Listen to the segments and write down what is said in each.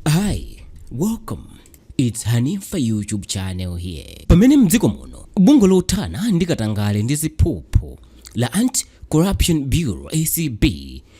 Hi, welcome. It's Hanifa YouTube channel here. Pamene mdziko muno, bungwe lothana ndi katangale ndi ziphuphu la Anti-Corruption Bureau ACB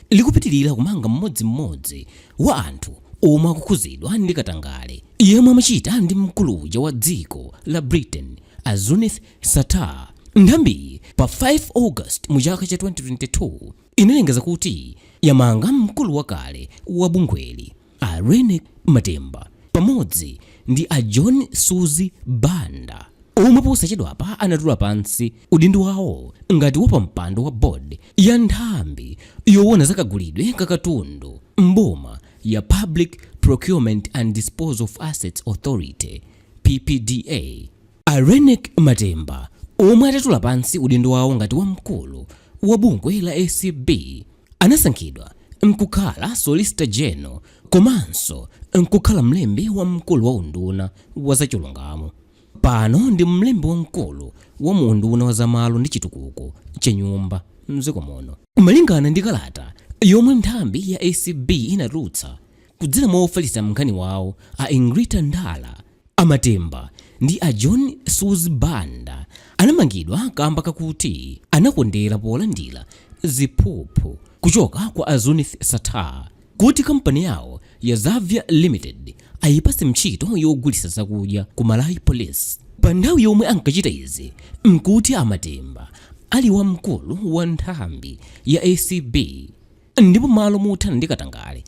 likupitirira kumanga mmodzimmodzi wa anthu omwe akukhudzidwa ndi katangale yemwe amachita ndi mkulu uja wa dziko la Britain a Zuneth Sattar. Nthambiyi pa 5 August mu chaka cha 2022 inalengeza kuti yamanga mkulu wakale wa bungweli a Reyneck Matemba pamodzi ndi a John Suzi Banda omwe posachedwapa anatula pansi udindo wawo ngati wapampando wa board ya nthambi yowona za kagulidwe ka katundu m'boma ya Public Procurement and Disposal of Assets Authority, PPDA. A Reyneck Matemba omwe atatula pansi udindo wawo ngati wamkulu wa bungwe la acb anasankhidwa nkukhala Solicitor General komanso nkukhala mlembi wamkulu wa unduna wa zachilungamo. Pano ndi mlembi wamkulu wa mu unduna wa zamalo ndi chitukuko cha nyumba mdziko muno. Malingana ndi kalata yomwe nthambi ya acb inatulutsa, Kudzera mwa ofalitsa nkhani wawo a Egrita Ndala, a Matemba ndi a John Suzi Banda anamangidwa kamba kakuti anakondera polandira ziphuphu kuchoka kwa a Zuneth Sattar kuti kampani yawo ya Xaviar Limited ayipatse ntchito yogulitsa zakudya ku Malawi Police. Pa nthawi yomwe ankachita izi nkuti a Matemba ali wamkulu wa nthambi ya acb. Ndipo malo mothana ndi katangale,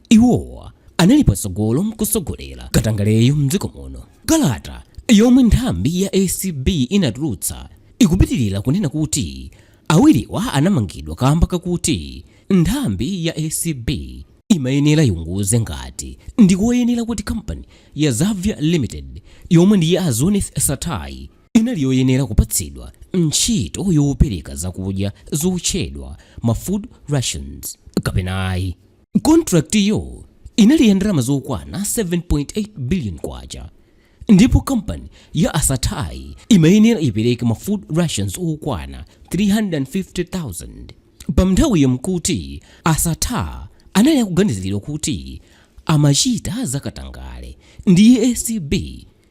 iwowa anali patsogolo nkutsogolera katangaleyo mdziko muno. Kalata yomwe nthambi ya acb inatulutsa ikupitilira kunena kuti awiriwa anamangidwa kamba kakuti nthambi ya acb imayenera iwunguze ngati ndikoyenera kuti kampani ya Xaviar Limited yomwe ndi ya a Zuneth Sattar inali yoyenera kupatsidwa ntchito yopereka zakudya zotchedwa ma food rations kapena ayi. Kontrakitiyo inali ya ndalama zokwana 7.8 biliyoni kwacha ndipo kampani ya a Sattar-yi imayenera ipereke ma food rations okwana 350,000. Pa nthawiyo n'kuti a Sattar anali akuganiziridwa kuti amachita zakatangale ndi acb.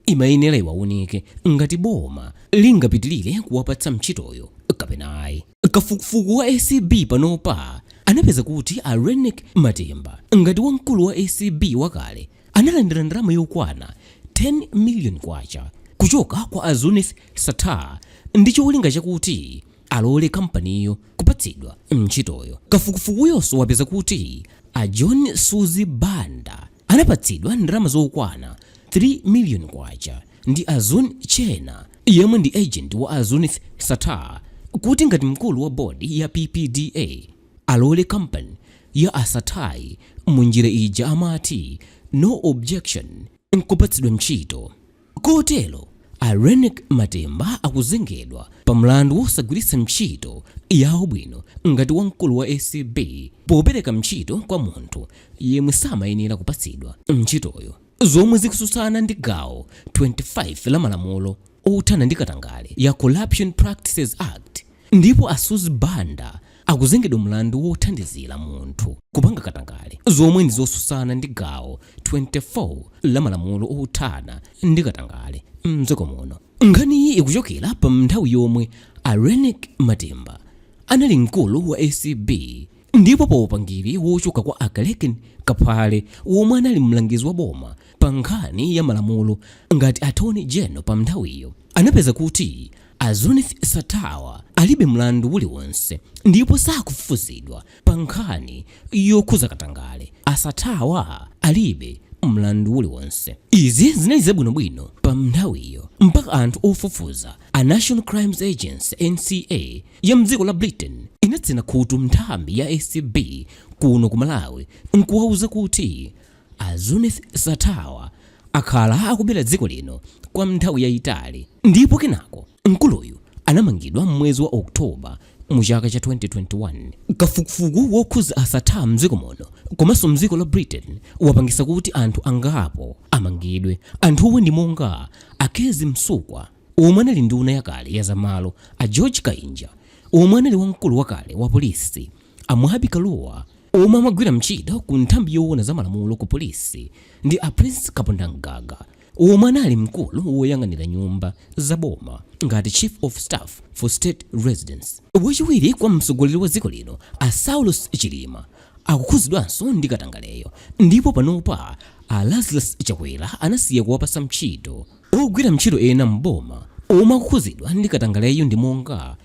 imayenera iwaunike ngati boma lingapitilire kuwapatsa ntchitoyo kapena ayi. Kafukufuku wa acb panopa anapeza kuti a Reyneck Matemba ngati wamkulu wa acb wakale analandira ndalama yokwana 10 million kwacha kuchoka kwa a Zuneth Sattar ndi cholinga chakuti alole kampaniyo kupatsidwa ntchitoyo. Kafukufukuyonso wapeza kuti a John Suzi Banda, anapatsidwa ndalama zokwana K3 million ndi a Zun Cheena yemwe ndi agent wa a Zuneth Sattar kuti ngati mkulu wa board ya PPDA alole company ya a Sattar'yi mu njira ija amati no objection nkupatsidwa ntchito. Kotero a Reyneck Matemba akuzengedwa pa mlandu wosagwiritsa ntchito yawo bwino ngati wamkulu wa acb popereka ntchito kwa munthu yemwe samayenera kupatsidwa ntchitoyo zomwe zikususana ndi gawo 25 la malamulo othana ndi katangale ya Corruption Practices Act, Ndipo a Suzi Banda akuzengedwa mlandu wothandizira munthu kupanga katangale zomwe ndi zosusana ndi gawo 24 la malamulo othana ndi katangale mdziko muno. Nkhaniyi ikuchokera pa mnthawi yomwe a Reyneck Matemba anali mkulu wa acb ndipo pa upangiri wochoka kwa a Kalekeni Kaphale womwe anali mlangizi wa boma pa nkhani ya malamulo ngati attorney general pa mnthawiyo anapeza kuti A Zuneth Sattar'wa alibe mlandu uliwonse ndipo sakufufuzidwa pa nkhani yokhuza katangale. A Sattar'wa alibe mlandu uliwonse. Izi zinali zabwino bwino pa mnthawiyo mpaka anthu ofufuza a National Crimes Agency, NCA, ya mdziko la Britain inatsina khutu nthambi ya acb kuno ku Malawi nkuwauza kuti A Zuneth Sattar'wa akhala akubera dziko lino kwa nthawi yayitali ndipo kenako mkuluyu anamangidwa m'mwezi wa October mu chaka cha 2021. Kafukufuku wokhuza a Sattar'wa mdziko muno komanso mdziko la Britain wapangisa kuti anthu angapo amangidwe. Anthuwa ndi monga a Kezzie Msukwa womwe anali nduna yakale ya za malo, a George Kainja womwe anali wamkulu wakale wa polisi, a Mwabi Kaluwa, Omwe amagwira ntchito ku nthambi yowona za malamulo ku polisi ndi a Prince Kapondamgaga omwe anali mkulu woyang'anira nyumba za boma ngati Chief of Staff for State Residence. Wachiwiri kwa mtsogoleri wa dziko lino a Saulos Chilima akukhuzidwanso ndi katangaleyo ndipo panopa a Lazarus Chakwera anasiya kuwapatsa ntchito. Ogwira ntchito ena m'boma omwe akukhuzidwa ndi katangaleyo ndi monga.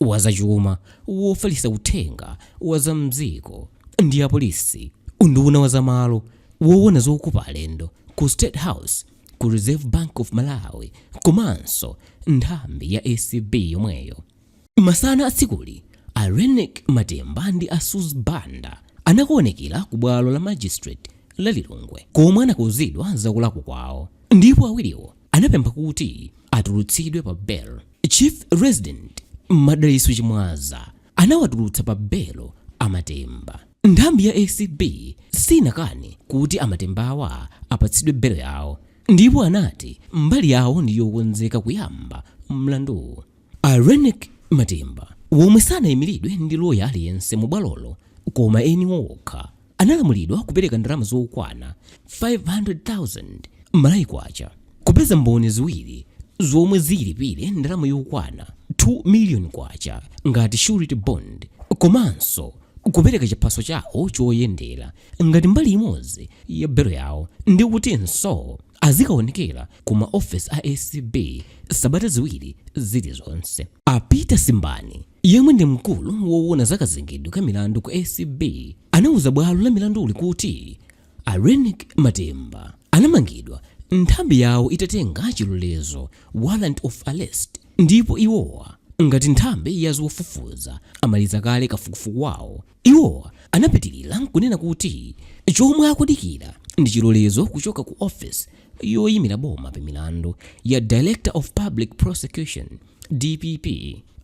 wa zachuma, wofalitsa uthenga wa za m'dziko ndi apolisi, unduna wa zamalo, woona zokopa alendo ku State House, ku Reserve Bank of Malawi komanso nthambi ya acb yomweyo. Masana a tsikuli, a Reyneck Matemba ndi a Suzi Banda anakaonekera ku bwalo la Magistrate la Lilongwe komwe anakauzidwa za kulakwa kwawo ndipo awiriwo anapempha kuti atulutsidwe pa belo. Chief Resident Madalitso Chimwaza anawatulutsa pa belo a Matemba. Nthambi ya ACB sinakane kuti a Matembawa apatsidwe belo yawo ndipo anati mbali yawo ndi yokonzeka kuyamba mlanduwu. A Reyneck Matemba womwe sanayimiridwe ndi loya aliyense mu bwalolo koma eni okha analamulidwa kupereka ndalama zokwana 500,000 Malawi Kwacha kupeza mboni ziwiri zomwe zilipire ndalama yokwana 2 miliyoni Kwacha ngati surety bond komanso kupereka chiphaso chawo choyendera ngati mbali imodzi ya belo yawo ndi kutinso azikaonekera ku ma ofesi a acb sabata ziwiri zilizonse a Peter Simbani Yemwe ndi mkulu wowona za kazengedwe ka milandu ku acb anauza bwalo la milanduli kuti a Reyneck Matemba anamangidwa nthambi yawo itatenga chilolezo, warrant of arrest, ndipo iwowa ngati nthambi ya zofufuza amaliza kale kafukufuku wawo. Iwo anapitilira nkunena kuti chomwe akudikira ndi chilolezo kuchoka ku office yoyimira boma pa milandu ya Director of Public Prosecution, dpp,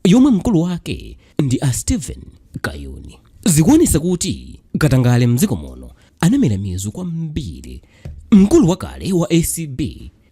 yomwe mkulu wake ndi a Steven Kayuni. Zikuonesa kuti katangale mdziko muno anamera mizu kwambiri. Mkulu wakale wa acb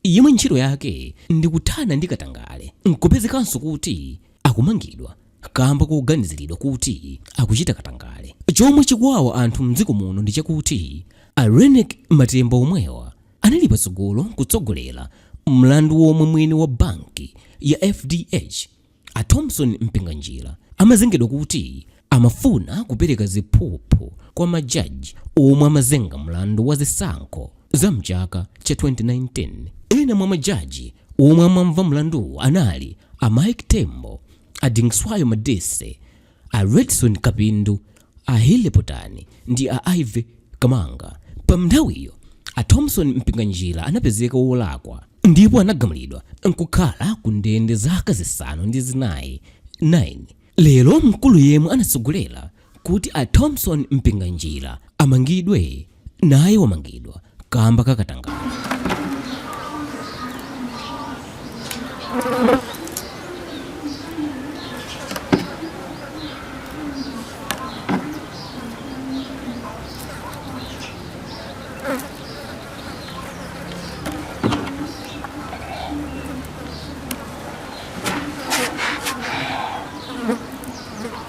yemwe ntchito yake ndi kuthana ndi katangale nkupezekanso kuti akumangidwa. kamba koganiziridwa kuti akuchita katangale. Chomwe chikuwawa anthu mdziko muno ndi chakuti a Reyneck Matemba omwewa anali patsogolo kutsogolera mlandu womwe mwini wa banki ya FDH a Thomson Mpinganjira amazengedwa kuti amafuna kupereka ziphuphu kwa ma judge omwe amazenga mlandu wa zisankho za mchaka cha 2019. Ena mwa ma judge Omwe amamva mlanduwu anali a Mike Tembo, a Dingswayo Madise, a Redson Kapindu, a Healey Potani ndi a Ivy Kamanga. Panthawiyo, a Thomson Mpinganjira anapezeka wolakwa ndipo anagamulidwa nkukhala ku ndende zaka zisanu ndi zinayi 9. Lero mkulu yemwe anatsogolera kuti a Thomson Mpinganjira amangidwe, naye wamangidwa kamba ka katangale.